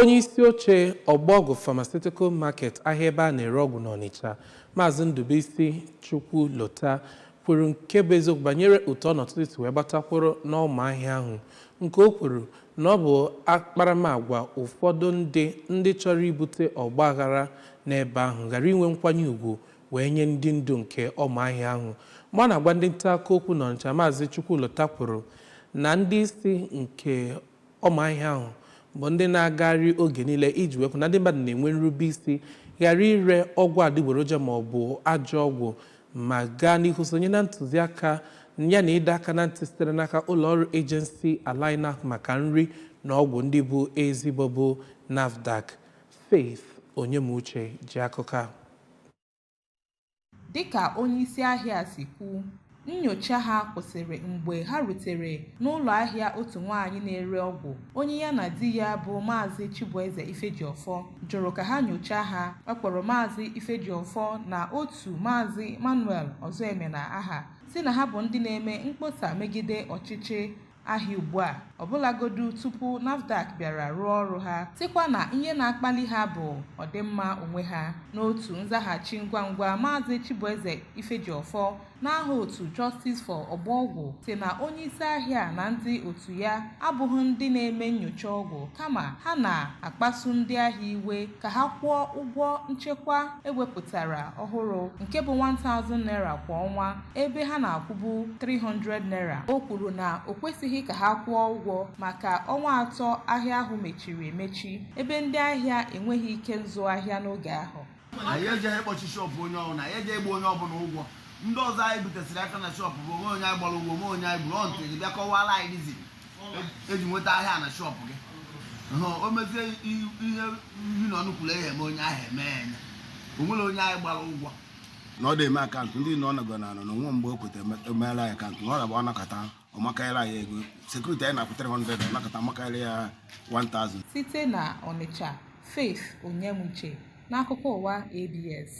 Onye isi oche Ọgbọgwụ Pharmaceutical Market ahịa ebe a na-ere ọgwụ n'Ọnịcha, Maazị Ndubuisi Chukwulota kwuru nke bụ eziokwu banyere otu ọnọdụ si wee gbata kwụrụ n'ọma ahịa ahụ nke o kwuru na ọ bụ akparamagwa ụfọdụ ndị ndị chọrọ ibute ọgba aghara n'ebe ahụ ghara inwe nkwanye ugwu wee nye ndị ndu nke ọma ahịa ahụ mgbe ọ na-agwa ndị nta akụkọ okwu n'Ọnịcha Maazị Chukwulota kwuru na ndị isi nke ọma ahịa ahụ bụ ndị na-agagharị oge niile iji wee hụ na ndị mmadụ na-enwe nrube isi ghara ire ọgwụ adịgboroja ma ọ bụ ajọ ọgwụ ma gaa n'ihu sonye na ntụziaka ya na ịdọ aka na ntị sitere n'aka ụlọ ọrụ ejensi ala anyị na-ahụ maka nri na ọgwụ ndị bụ ezigbo bụ NAFDAC. Faith Onyemuche ji akụkọ a. Dịka onyeisi ahịa a si kwu, nnyocha ha kwụsịrị mgbe ha rutere n'ụlọ ahịa otu nwaanyị na-ere ọgwụ onye ya na di ya bụ Maazị Chibueze Ifejiọfọ jụrụ ka ha nyochaa ha. Ọ kpọrọ Maazị Ifejiọfọ na otu Maazị Emmanuel Ọzọemena aha sị na ha bụ ndị na-eme mkpọsa megide ọchịchị ahịa ugbu a ọbụlagodu tupu NAFDAC bịara rụọ ọrụ ha sịkwa na ihe na-akpali ha bụ ọdịmma onwe ha n'otu nzaghachi ngwa ngwa maazị Chibueze Ifejiọfọ n'aha otu Justice for Ọgbọgwụ sị na onye isi ahịa na ndị otu ya abụghị ndị na-eme nnyocha ọgwụ kama ha na-akpasu ndị ahịa iwe ka ha kwụọ ụgwọ nchekwa e wepụtara ọhụrụ nke bụ 1000 naira kwa ọnwa ebe ha na-akwụbu 300 naira o kwuru na o kwesịghị ka ha kwụọ ụgwọ maka ọnwa atọ ahịa ahụ mechiri emechi ebe ndị ahịa enweghị ike nzụ ahịa n'oge ahụ anyị ejeghị ịkpọchi shọpụ onye ọbụla anyị ejeghị ịgba onye ọbụla ụgwọ ndị ọzọ anyị butesịrị aka na shọpụ bụ o nwee onye anyị gbara ụgwọ o nwee onye anyị gburu ọntụ gị bịa kọwara anyị dizi e ji nweta ahịa na shọpụ gị hụ o mezie i- ihe nri na ọnụ kwuru ehe eme onye ahụ eme ya eme. o nwere onye anyị gbara ụgwọ na ọ na-eme akaụntụ ndị na ọ nọgọ na anọ na o nwe mgbe o kweta emeela ya akaụntụ na ọ na-agba ọ nọkata ọ makarịla ya ego sekuriti anyị na-akwụ 300 ọ nọkata makarịa ya 1000 site na Ọnịcha Faith Onyemuche n'akụkọ ụwa ABS